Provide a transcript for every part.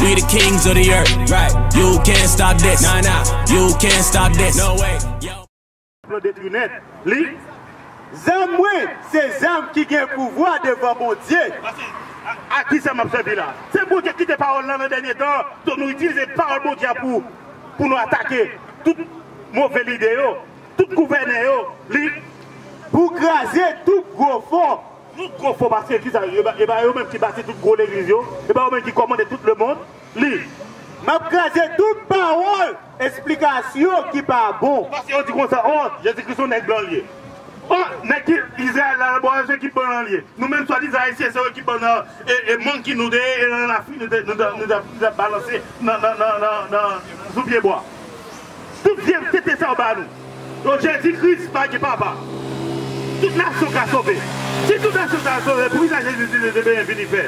We the kings of the earth right you can't stop this nah nah you can't stop this no way yo. Plan detri nèt li. Zam mwen se zam ki gen pouvwa devan Bondye. A ki sa m ap sèvi la? Se pou Bondye kite pawòl lan nan dènye tan an ke nou itilize pawòl Bondye a pou pou nou atake tout move lide yo, tout gouvènè yo li. Pou kraze tout gwo fò Nou twò fò paske ki sa yo e ba yo menm ki bati tout gwo legliz yo e ba yo menm ki kòmande tout le mond li. Map kraze tout pawol esplikasyon ki pa bon. Paske yo di konsa oh jezi kris yon nèg blan li ye oh nèg ki izrayèl la bò se ekip blan li ye nou menm swadizan ayisyen se yon ekip blan nan e monkey nou te ye e nan lafrik nou te nou tap balanse nan nan nan sou pye bwa. Tout vyann tete sa ou ba nou. O Jezi Kris pa gen papa. Tout nasyon ka sove. Si tout nasyon sa yo sove pou kisa Jezi Kris te benyen vini fè?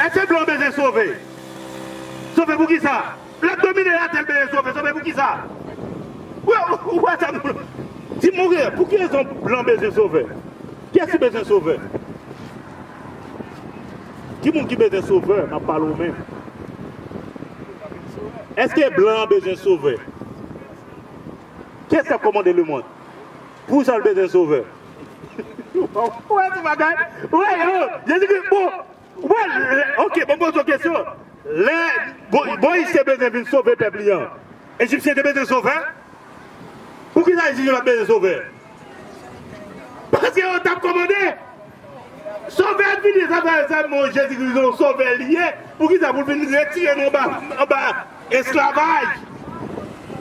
Eske blan bezwen sove? Sove pou kisa? Lap domine latè l bezwen sove. Sove pou kisa? Ou wè sa moun. Di m ou wè pou ki rezon blan bezwen sove? Kiyès ki bezwen sove? Ki moun ki bezwen sovè map pale w menm eske blan an bezwen sovè kèt kap komande lemond pou sa l bezwen sovè ou wè ti bagay ou wè yo jezi kris bon ou wè ok bon poze w kesyon lè moyiz te bezwen vin sove pèp li an ejipsyen te bezwen sovè poukisa ejipsyen pat bezwen sovè. Paske yo tap komande. Sovè vini sa fè sa mon jezi kris yon sovè li ye poukisa poul vin retire nou anba esklavaj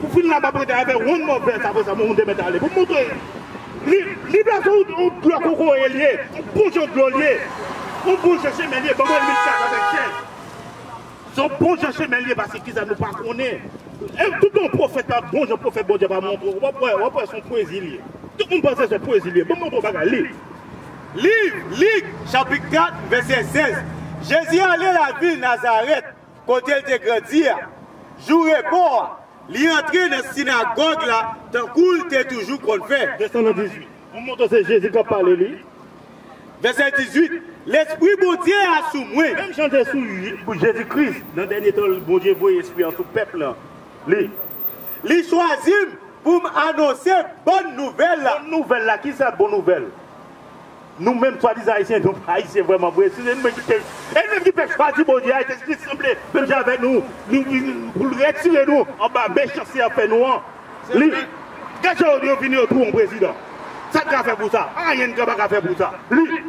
ou fin la map rete avè one more verse aprè sa mwen te mèt ale pou moutre li vle se yon dlo kokoye li ye yon bouchon dlo li ye yon bouchon chemen li ye banm wè limit sa sa fè chen. Son bon jan chemen liye pase kisa nou pa konnen em tout bon profèt pa bon jan profèt bondye pa montre w wap wè wap wè son pwezi liye tout moun panse son pwezi liye banm montre w bagay liv liv lik chapit 4 vèsè 16 jezi ale lavil nazarèt kote l te grandi a jou repo a li antre nan sinagòg la tankou l te toujou konn fè vèsè 18. Mwen montre w se Jezi k ap pale li. Vèsè 18, Lespri Bondye a sou mwen. Menm jan l te sou Jezi Kris nan dènye tan, Bondye voye Espri an sou pèp lan li. Li chwazi m pou m anonse bòn nouvèl la. Bòn nouvèl la, ki sa bon nouvèl? Nou menm swadizan Ayisyen, nou pa Ayisyen vrèman vre. Se nou menm ki pèp, e nou menm ki pèp chwazi Bondye a, e Jezi Kris sanble menm jan avèk nou, pou l retire nou anba mechanste y ap fè nou an. Li. Gad jan yo fini yo tou on prezidan. Sa n ka fè pou sa? Anyen n ka pa ka fè pou sa. Li.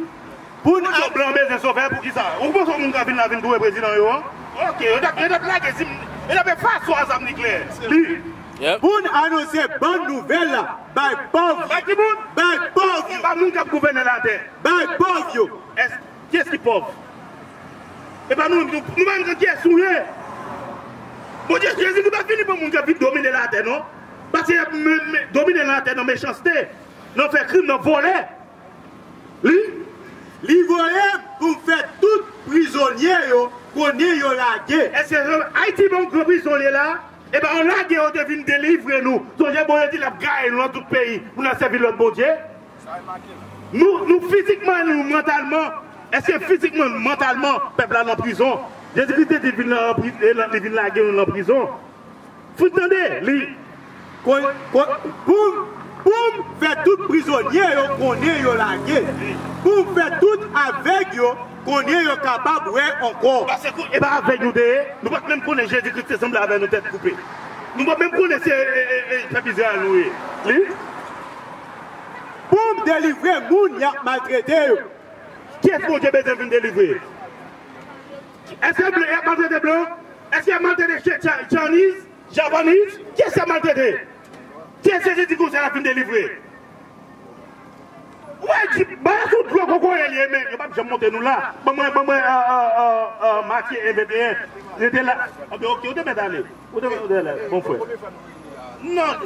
Pou n al blan bezwen sovè pou kisa? Ou panse yon moun ka vin la vin touye prezidan yo an? Ok. Yo tap yo tap lage zim yo tap fè aso a zam nikleyè. Li. Pou n anonse bon nouvèl la bay pòv yo. Bay ki moun? Bay pòv yo. Bay moun k ap gouvène latè. Bay pòv yo. Èske. Kyes ki pòv? E pa nou menm nou pa menm konn kyes nou ye. Bondye Jezikri pa vini pou moun k ap vin domine latè non. Paske y ap domine latè nan mechanste, nan fè krim, nan vòlè. Li. Li voye m pou m fè tout prizonye yo konnen yo lage. Eske se Ayiti pa yon gran prizon li ye la a? E pa yo lage yo te vin delivre nou. Sonje Bondye di l ap gaye nou nan tout peyi pou n al sèvi lòt bondye. Nou fizikman nou mantalman eske fizikman nou mantalman pèp la nan prizon jezi kris te di vin nan li vin lage nou nan prizon fout tande li poum fè tout prizonye yo konnen yo lage poum fè tout avèg yo konnen yo kapab wè ankò e pa avèg nou te ye nou pat menm konnen jezi kris te sanble avè nou tèt koupe nou pat menm konnen se pèp izrayèl nou ye li. Poum delivre moun yap maltrete yo. Kyes Bondye bezwen vin delivre? Eske blan yap maltrete blan? Eske yap maltrete Chinese, Japanese? Kyes yap maltrete? Kyes Jezi di konsa yap vin delivre? Ou wè jip Bala son dlo kokoye liye men yo pap janm monte nou la Ban mwen Ban mwen Matye 1 21 Rete la Ok ou te mèt ale. Ou te wè Dèlè, bon frè. Nan,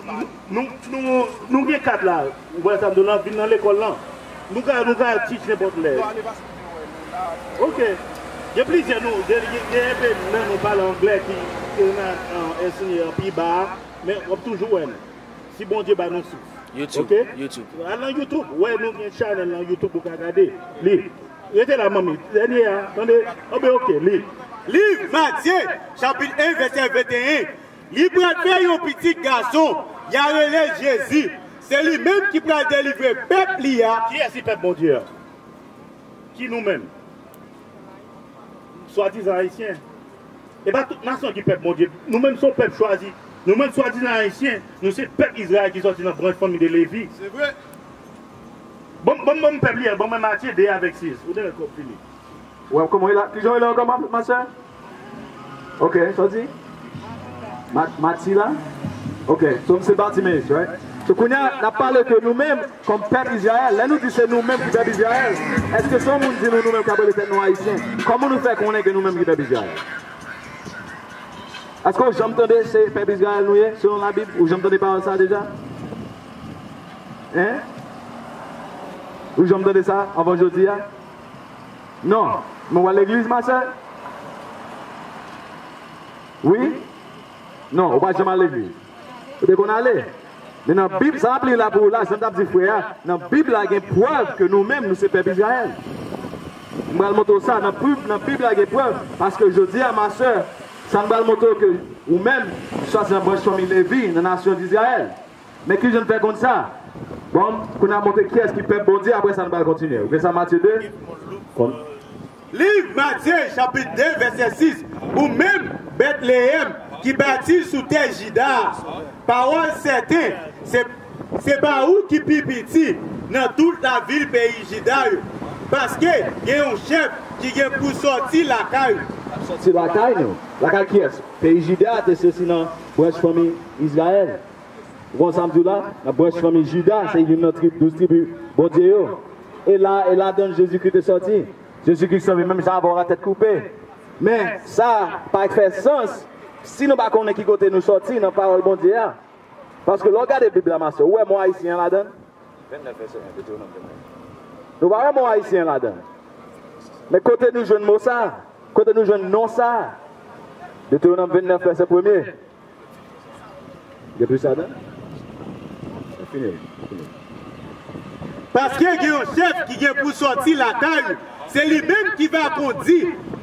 nou, nou, nou gen kat la. Ou wè sa m di w lan? Vin nan lekòl lan. Nou ka, nou ka teach nenpòt lè. Ok. Gen plizyè nou, gen, gen enpe nan nou pale angle ki, ki renmen ensenye an pi ba a, men w ap toujou wè nou. Si Bondye ba nou souf. YouTube, YouTube. Ok? Al lan YouTube, wè nou gen channel lan YouTube ou ka gade li. Rete la manmi dènye a tande anbe ok li. Liv Matye chapit 1 vèsè 21 Li pral fè yon pitit gason ya rele Jezi se li menm ki pral delivre pèp li a. Kiyès ki pèp Bondye a? Ki nou menm? Swadizan ayisyen. E pa tout nasyon ki pèp Bondye. Nou menm son pèp chwazi. Nou menm swadizan ayisyen, nou se pèp Izrayèl ki sòti nan branch fanmi de Levi. Se vre. Bon bon bon pèp li a bon mwen matye 2 avèk 6 ou dèyè kòb fini. Waww kòman ye la kijan ye la ankò ma sè ok sa w di mati la ok so m se batimeus right so kounya n ap pale de nou menm kòm pèp izrayèl lè nou di se nou menm ki pèp izrayèl èske se yon moun di nou nou menm k ap rele tèt nou ayisyen kòman nou fè konnen ke nou menm ki pèp izrayèl èske w janm tande se pèp izrayèl nou ye selon labib ou janm tande pawòl sa deja. Hein? Ou janm tande sa anvan jodi a? Non. Men w al legliz, ma sè? Wi? Non, ou pa janm al legliz. Ou te konn ale. Men nan Bib, sa m ap li la pou ou la, jan m t ap di frè a, nan Bib la gen prèv ke nou menm, nou se pèp Izrayèl. M pral montre w sa, nan Bib la gen prèv, paske jodi a, ma sè, sa m pral montre w ke ou menm, swa se nan branch fanmi Levi, nan nasyon Izrayèl. Men kijan n fè konn sa? Bon, kounye a montre kiyès ki pèp Bondye, apre sa nou pral kontinye. Ouvri sa Matye 2, kon. Liv Matye chapit 2 vèsè 6 Ou menm, Betleyèm, ki bati sou tè Jida a, pawòl sèten, se, se pa ou ki pi piti nan tout lavil peyi Jida yo, paske gen yon chèf ki gen pou sòti lakay ou. K ap sòti lakay nou. Lakay kiyès? Peyi Jida a te soti nan. Branch fanmi Izrayèl. Ou konn sa m di w la? Nan branch fanmi Jida, se youn nan trib, douz tribi Bondye yo. E la, e ladan l Jezikri te sòti. Jezikri sanble menm jan avè w, atèt koupe. Men, sa pa fè sans si nou pa konnen ki kote nou sòti nan Pawòl Bondye a. Paske lè w gade Bib la, mastè, ou wè mo Ayisyen an ladan l? Nou pa wè mo Ayisyen an ladan l. Men kote nou jwenn mo sa a? Kote nou jwenn non sa a? Detewonom 29 vèsè premye. Gen plis ladan l? Mwen fini l. Mwen fini l. Paske gen yon chèf ki gen pou sòti lakay ou, se li menm ki va kondi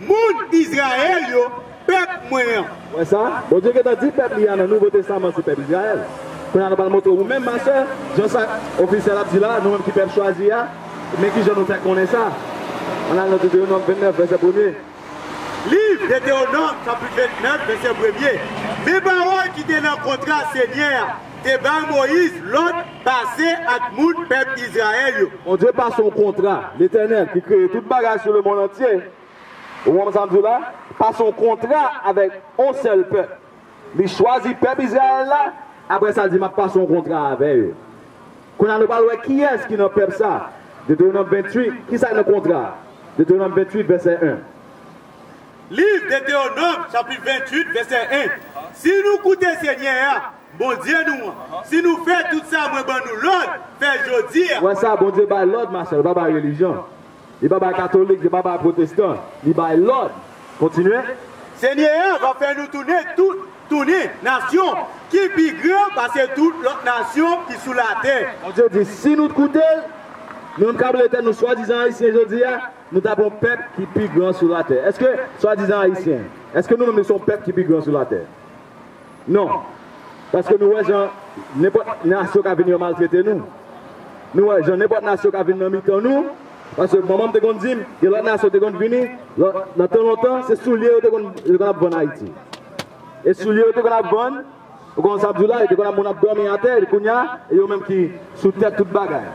moun Izrayèl yo, pèp mwen an. Ou wè sa? Bondye gentan di pèp li a nan Nouvo Testaman se pèp Izrayèl. Kounye a nou pral montre ou menm, ma sè, jan sa ofisyèl ap di la a, nou menm ki pèp chwazi a. Men ki jan nou fè konnen sa, ann al nan Detewonòm 29, vèsè premye. Liv Detewonòm chapit 29, vèsè premye, Men pawòl ki te nan kontra Senyè a te bay Moyiz lòd pase ak moun pèp Izrayèl yo. Bondye pase yon kontra, Letènèl ki kreye tout bagay sou lemonn antye, ou konprann sa m di w la, pase yon kontra avèk yon sèl pèp, Li chwazi pèp Izrayèl la, apre sa l di, M ap pase yon kontra avè yo. Kounye a, nou pral wè kiyès ki nan pèp sa a. Detewonòm 28, ki sa k nan kontra a? Detewonòm 28, vèsè 1. Liv Detewonòm, chapit 28, vèsè 1 Si nou koute Senyè a, Bondye nou an, si nou fè tout sa mwen ban nou lòd fè jodi a. Wè sa, Bondye bay lòd, Machèl, pa bay relijyon. Li pa bay katolik, li pa bay pwotestan, li bay lòd. Kontinye. Senyè a va fè nou tounen tout, tounen, nasyon ki pi gran pase tout lòt nasyon ki sou latè. Bondye di, si nou t koute l, nou t ka rele tèt nou swadizan Ayisyen jodi a, nou t ap yon pèp ki pi gran sou latè. Èske, swadizan Ayisyen, èske nou menm nou se yon pèp ki pi gran sou latè? Non. Paske nou wè jan nenpòt nasyon ka vin yo maltrete nou. Nou wè jan nenpòt nasyon ka vin nan mitan nou. Paske manman m te konn di m, gen lòt nasyon te konn vini, nan tan lontan, se soulye yo te konn ap vann Ayiti. E soulye yo te konn ap vann, ou konprann sa m di w la, yo te konn ap moun ap dòmi atè, epi kounye a, e yo menm ki sou tèt tout bagay.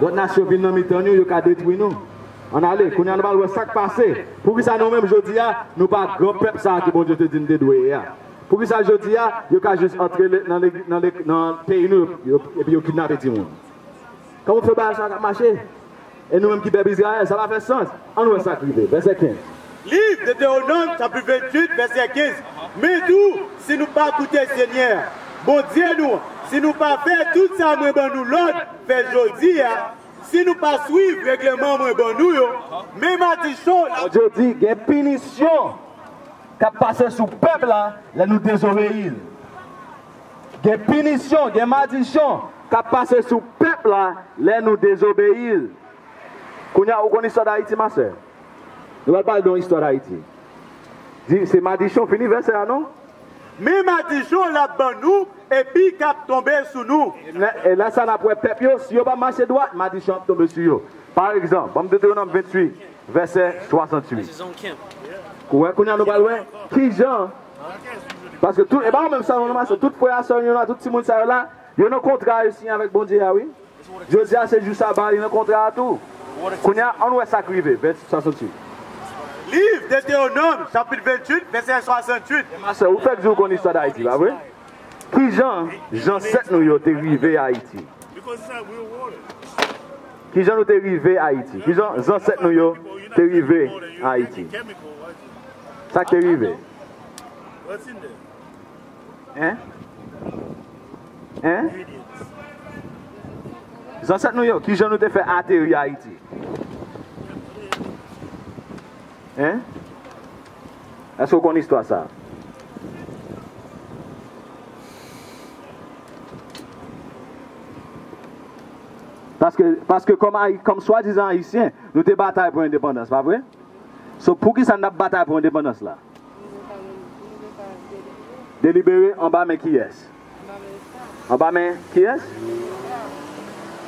Lòt nasyon vin nan mitan nou, yo ka detwi nou. Ann ale, kounye a nou pral wè sa k pase. Poukisa nou menm jodi a, nou pa gran pèp sa a ke Bondye te di n te dwe ye a? Poukisa jodi a, yo ka jis antre nan peyi nou epi yo kidnape timoun? Kòman pou fè bagay sa a ka mache? E nou menm ki pèp Izrayèl, sa pa fè sans. Ann wè sa k rive, vèsè 15. Liv Detewonòm chapit 28 vèsè 15 Men tou, si nou pa koute Senyè a, Bondye nou an, si nou pa fè tout sa mwen ban nou lòd fè jodi a, Si nou pa swiv regleman mwen ban nou yo, men madichon! Bondye di gen pinisyon k ap pase sou pèp la lè nou dezobeyi l. Gen pinisyon, gen madichon k ap pase sou pèp la lè nou dezobeyi l. Kounye a ou konn istwa Dayiti ma sè? Nou pral pale de yon istwa Dayiti. Di se madichon fini vèsè a non. Men madichon lap ban nou epi kap tonbe sou nou. E la sa nap wè pèp yo si yo pa mache dwat madichon ap tonbe sou yo. Pa egzanp, banm Detewonom 28 vèsè 68. Ou wè kounya nou pral wè kijan paske tout e pa ou menm sèlman nou mache tout frè a sè nou yo la tout timoun sa yo la yo nan kontra yo siyen avèk Bondye a wi. Jodi a se jou saba li nan kontra a tou. Kounye a, ann wè sa k rive, vèsè 68. Liv Detewonòm, chapit 28, vèsè 68. E masè, ou fèk di ou konn istwa Dayiti, pa vre? Ki jan jansèt nou yo te rive Ayiti? Ki jan nou te rive Ayiti? Ki jan zansèt nou yo te rive Ayiti? Sa k te rive? Hein? Hein? Zansèt nou yo, kijan nou te fè ateri Ayiti? Hein? Èske ou konn istwa sa? Paske, paske kòm Ayi, kòm swadizan Ayisyen, nou te batay pou endepandans, pa vre? So, poukisa n ap batay pou endepandans la? Delibere anba men kiyès? Anba men kiyès?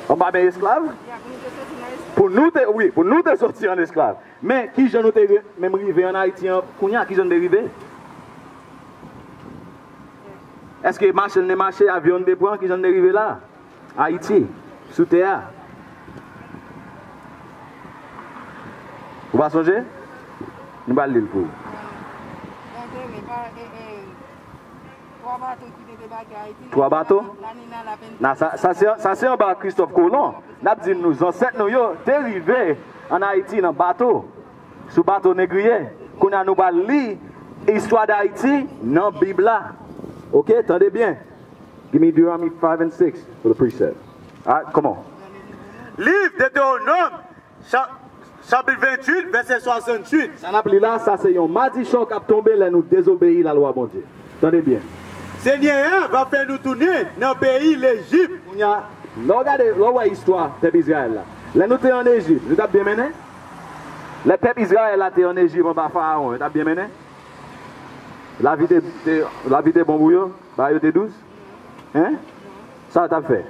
Anba men esklav? Pou nou te, wi, pou nou te soti an esklav. Men, ki jan nou te menm rive an Ayiti an kounye a? Ki jan nou te rive? Èske machin te mache? Avyon te pran? Ki jan nou te rive la a? Ayiti, sou tè a. Ou pa sonje? Nou pral li l pou ou. Mwen te li pa e e. Twa bato ki te debake Ayiti. Twa bato? Na ni na la pen. Na sa sa se sa se anba Kristòf Kolon. N ap di nou zansèt nou yo te rive ann Ayiti nan bato, sou bato negriye. Kounye a nou pral li istwa Dayiti nan Bib la. Oke, tande byen. Gimme Deuteronomy 5 and 6 for the precept. Alright, come on. Liv Detewonòm, chapit 28, vèsè 68. Sa n ap li la a, sa se yon madichon k ap tonbe lè nou dezobeyi lalwa Bondye. Tande byen. Senyè a va fè nou tounen nan peyi Lejip. Kounye a, lè w gade, lè w wè istwa pèp Izrayèl la, lè nou te ann Ejip, nou t ap byen mennen? Lè pèp Izrayèl la te ann Ejip anba Farawon, yo t ap byen mennen? Lavi te bon pou yo? Ba yo te dous? Hein? Sa yo t ap fè?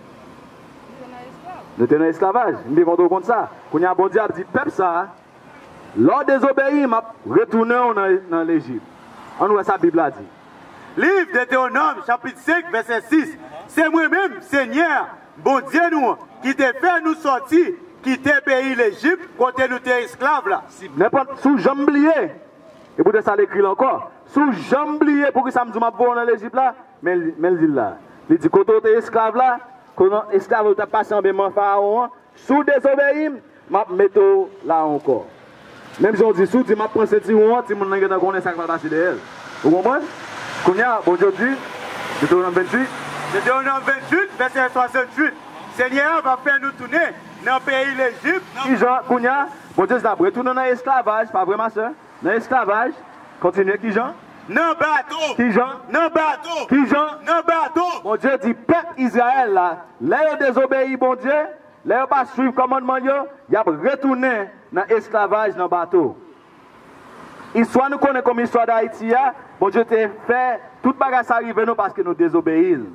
Nou te nan esklavaj. M te kontan w konn sa. Kounye a, Bondye ap di pèp sa a, Lè w dezobeyi m, m ap retounen w nan Lejip. Ann wè sa Bib la di. Liv Detewonòm chapit 5 vèsè 6, Se mwen menm, Senyè a, Bondye nou an, ki te fè nou soti kite peyi Lejip kote nou te esklav la. Si nenpòt si w janm bliye. E poutèt sa l ekri l ankò, Si w janm bliye poukisa m di w m ap voye w nan Lejip la, men l di l la a. Li di, Kote w te esklav la, kote esklav yo t ap pase anba men Farawon an, si w dezobeyi m, m ap mete w la a ankò. Menm jan w di, si w di m ap pran sentiwon an, timoun lan gentan konnen sa k pral pase dèyè l. Ou konprann? Kounye a, Bondye di, Detowonom 28. Detowonom 28, vèsè 68, Senyè a va fè nou tounen nan peyi Lejip. Ki jan? Kounye a, Bon Dieu si nap retounen nan esklavaj pa vre ma sè? Nan esklavaj? Kontinye kijan? Nan bato! Kijan? Nan bato! Kijan? Nan bato! Bon Dieu di pèp Israël la lè yo dezobeyi Bon Dieu, lè yo pa swiv kòmandman l yo, yap retounen nan esklavaj nan bato. Istwa nou konnen kòm istwa Dayiti a, Bon Dieu te fè tout bagay sa rive nou paske nou dezobeyi l.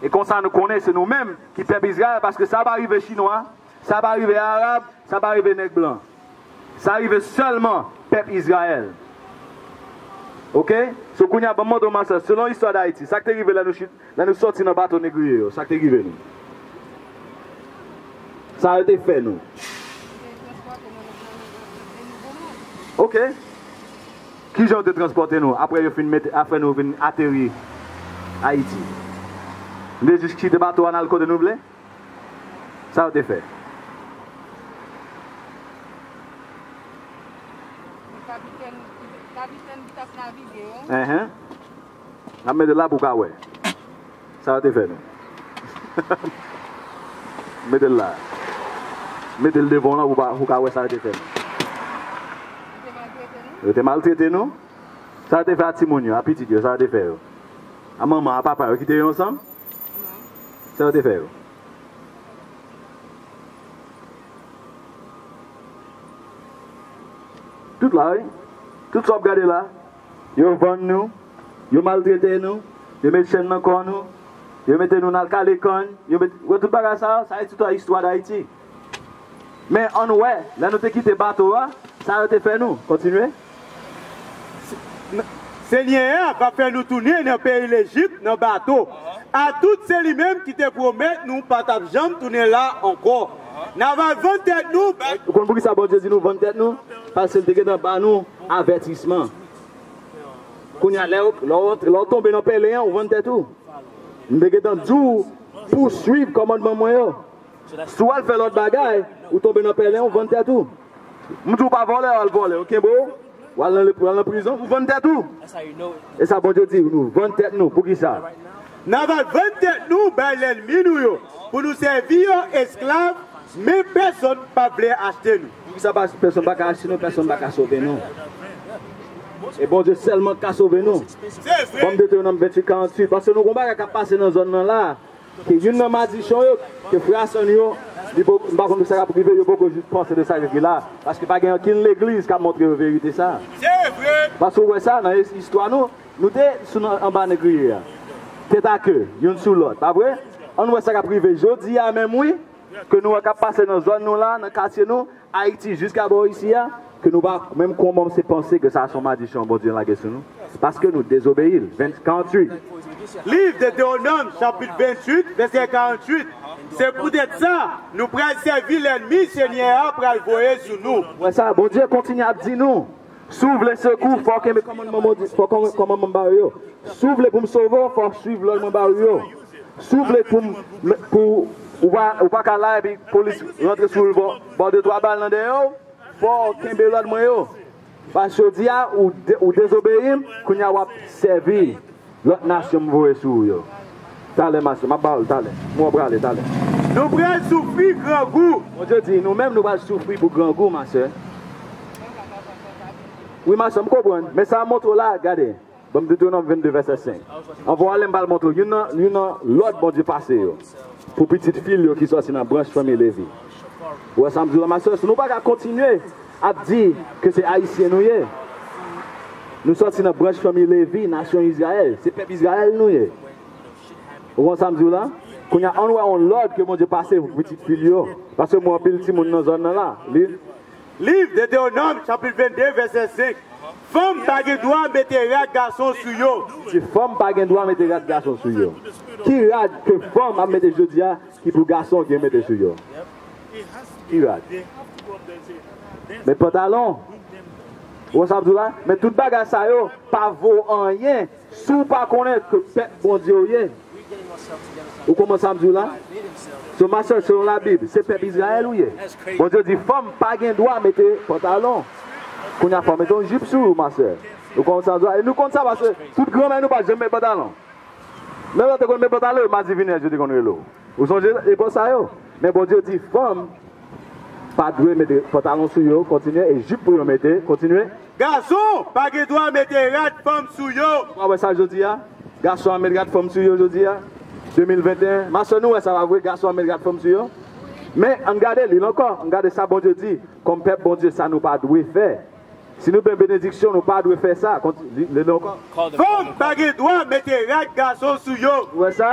E konsa nou konnen se nou menm ki pèp Israël paske sa pa rive chinwa, Sa pa rive Arab, sa pa rive nèg blan. Sa rive sèlman pèp Izrayèl. Ok? So kounye a ban m montre w ma sè, selon istwa Dayiti, sa k te rive lè nou chit, lè nou sòti nan bato negriye yo, sa k te rive nou? Sa yo te fè nou? Yo te transpòte nou nan nan nan Nouvo Mond. Ok. Ki jan yo te transpòte nou apre yo fin mete, apre nou vin ateri Ayiti? Nou te jis kite bato a n al kote nou vle? Sa yo te fè? Kapitèn ki t ap navige yo. Enhen. N ap mete la pou w ka wè. Sa yo te fè nou? Mete l la. Mete l devan w la pou w ka wè sa yo te fè nou. Yo te maltrete nou. Sa yo te fè a timoun yo, a pitit yo? Sa yo te fè yo? A manman, a papa yo kite yo ansanm? Sa yo te fè yo. Tout la wi. Tout sa w ap gade la. Yo vann nou. Yo maltrete nou. Yo met chèn nan kò nou. Yo mete nou nan al kale kann. Yo met, wè tout bagay sa yo? Sa se tout istwa Dayiti. Men, an nou wè, lè nou te kite bato a, sa yo te fè nou. Kontinye. Senyè a va fè nou tounen nan peyi Lejip nan bato. Atout se li menm ki te pwomèt nou pa t ap janm tounen la ankò. N a va vann tèt nou bay yo. Ou konn poukisa Bondye di nou vann tèt nou? Paske l te gentan ba nou avètisman. Kounye a, lè w tonbe nan pèlen an, ou vann tèt ou. M te gentan di w pou w suiv kòmandman mwen yo. Si w al fè lòt bagay, ou tonbe nan pèlen, ou vann tèt ou. M di w pa vòlè, w al vòlè, yo kenbe w, w al nan prizon, ou vann tèt ou. E sa Bondye di, nou vann tèt nou. Poukisa? N ava l vann tèt nou bay lènmi nou yo pou nou sèvi yo esklav, men pèsonn p ap vle achte nou. Poukisa pèsonn pa ka achte nou? Pèsonn pa ka sove nou. E Bondye sèlman k ka sove nou. Ban m mete yo nan Mventuitkaranthuit, paske nou gen yon bagay k ap pase nan zòn nan la a. Se youn nan madichon yo ke frè a sè nou yo li poko m pa konn pou sa kap rive yo poko jis panse de sa yo di la paske pa gen okenn legliz kap montre yo verite sa paske ou wè sa nan istwa nou nou te sou nan anba negriye a tèt a ke youn sou lòt pa vre ann wè sa kap rive jodi a menm wi ke nou wè kap pase nan zòn nou la nan katye nou Ayiti jiska bò isi a ke nou pa menm konmamse panse ke sa son madichon Bondye lage sou nou paske nou dezobeyi l. 20 48. Liv Detewonòm chapit 28 vèsè 48 Se poutèt sa, nou pral sèvi lènmi Senyè a pral voye sou nou. Apre sa, Bondye kontinye ap di nou, Si w vle sekou, fò w kenbe kòmandman mwen di, fò w kòmandman m ba ou yo. Si w vle pou m sove w, fò w suiv lòd mwen ba ou yo. Si w vle pou m, pou ou pa ka la epi polis rantre sou ou l ba w de twa bal nan dèyè w, fò w kenbe lòd mwen yo. Paske jodi a, ou dezobeyi m, kounye a w ap sèvi Lòt nasyon m voye sou ou yo. Talè ma sè, m ap ba ou l talè. M wè w prale talè. Nou pral soufri grangou. Bondye di, Nou menm nou pral soufri pou grangou, ma sè. Wi, ma sè, m konprann. Men sa m montre w la a, gade, ban m Detwonòm 22, vèsè 5. Anvan w ale, m pral montre w youn nan lòd Bondye pase yo pou pitit fi l yo ki soti nan branch fanmi Levi. Ou wè sa m di w la ma sè? Si nou pa ka kontinye ap di ke se Ayisyen nou ye, nou sòti nan branch fanmi Levi, nasyon Izrayèl, se pèp Izrayèl nou ye. Ou konprann sa m di w la? Kounye a, an nou wè yon lòd ke Bondye pase pou pitit fi l yo, paske m wè anpil timoun nan zòn nan la. Li. Liv Detewonòm chapit 22 vèsè 5, Fanm pa gen dwa mete rad gason sou yo. Li di, Fanm pa gen dwa mete rad gason sou yo. Ki rad ke fanm ap mete jodi a? Ki pou gason gen mete sou yo. Ki rad. Met pantalon. Ou wè sa map di w la? Men tout bagay sa yo pa vo anyen si w pa konnen ke pèp Bondye w ye. Ou konprann sa m di w la? So ma sè selon la bib se pèp Izrayèl ou ye. Bondye di fanm pa gen dwa mete pantalon. Kounye a fè w mete yon jip sou ou ma sè. Ou konprann sa m di w la? E nou konn sa paske tout granmè nou pat janm met pantalon. Lè yo te konn met pantalon yo madivinèz yo te konn rele w. Ou sonje epòk sa yo? Men Bondye di fanm pa dwe mete pantalon sou yo, kontinye, e jip pou yo mete, kontinye. Gason pa gen dwa mete rad fanm sou yo. Ou pa wè sa jodi a? Gason ap met rad fanm sou yo jodi a, 2021. Ma sè nou wè sa pa vre? Gason ap met rad fanm sou yo. Men, ann gade, li l ankò, ann gade sa Bondye di kòm pèp Bondye sa nou pa dwe fè. Si nou pè benediksyon nou pa dwe fè sa. Li li ankò. Fanm pa gen dwa mete rad gason sou yo. Ou wè sa?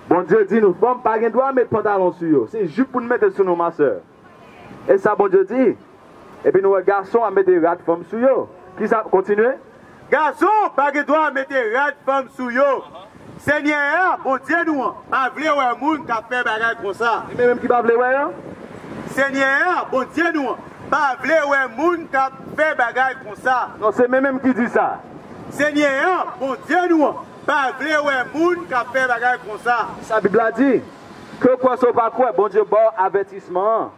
Bondye di nou fanm pa gen dwa met pantalon sou yo. Se jup pou nou mete sou nou ma sè. E sa Bondye di. Epi nou wè gason ap mete rad fanm sou yo. Kisa, kontinye. Gason pa gen dwa mete rad fanm sou yo. Senyè a, Bondye nou an, pa vle wè moun k ap fè bagay konsa. Li menm ki pa vle wè yo. Senyè a, Bondye nou an, pa vle wè moun k ap fè bagay konsa. Non, se men menm ki di sa. Senyè a, Bondye nou an, pa vle wè moun k ap fè bagay konsa. Sa Bib la di. Ke w kwè se w pa kwè, Bondye ba w avètisman an.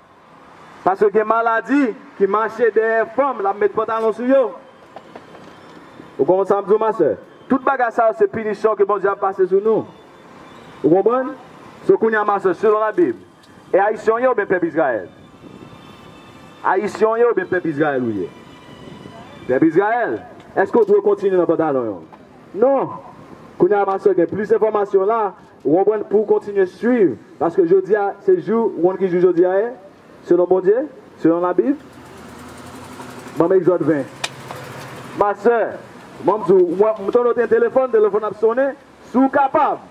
Paske gen maladi ki mache dèyè fanm lap met pantalon sou yo ou konprann sam diw ma sè tout bagay sa yo se pinisyon ke Bondye ap pase sou nou ou konprann so kounya ma sè selon la bib e ayisyen ou ye oubyen pèp izrayèl ayisyen ou ye oubyen pèp izrayèl ou ye pèp izrayèl eske ou dwe kontinye nan pantalon yo non kounya ma sè gen plis enfòmasyon la Ou konprann pouw kontinye swiv paske jodia se jou ou konn ki jou jodia ye selon Bondye selon la bib banm exode 20 ma sè mwen di w mwen m tande w gen telefòn telefòn ap sonnen si w kapab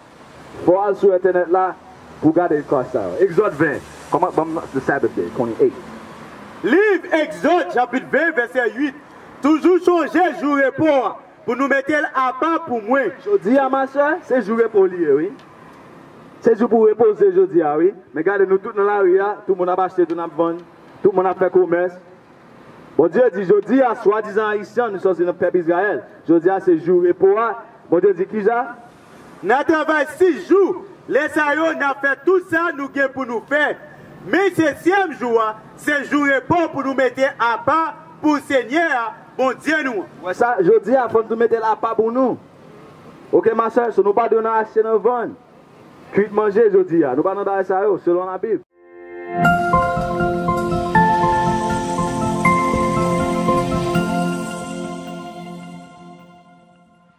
fòw al sou entènèt la pouw gade klas sa yo exode 20 kòman banm the sabbath day 28. Liv exode chapit 20 vèsè 8 toujou chonje jou repo a Pou nou mete l aba pou mwen. Jodi a ma sè, se jou repo li ye wi. Se jou pou repoze jodi a wi. Men gade nou tout nan lari a, tout moun ap achte, tout n ap vann, tout moun ap fè komès. Bondye di jodi a, swadizan Ayisyen an, nou sòti nan pèp Izrayèl, jodi a se jou repo a, Bondye di kisa? Nan travay 6 jou, lè sa yo n ap fè tout sa nou gen pou nou fè. Men setyèm jou a se jou repo pou nou mete apa pou Senyè a, Bondye nou an. Ou wè sa, jodi a fò n tou mete l apa pou nou. Oke ma sè, so nou pa dwe nan achte nan vann, kuit manje jodi a. Nou pa nan bagay sa yo, selon labib.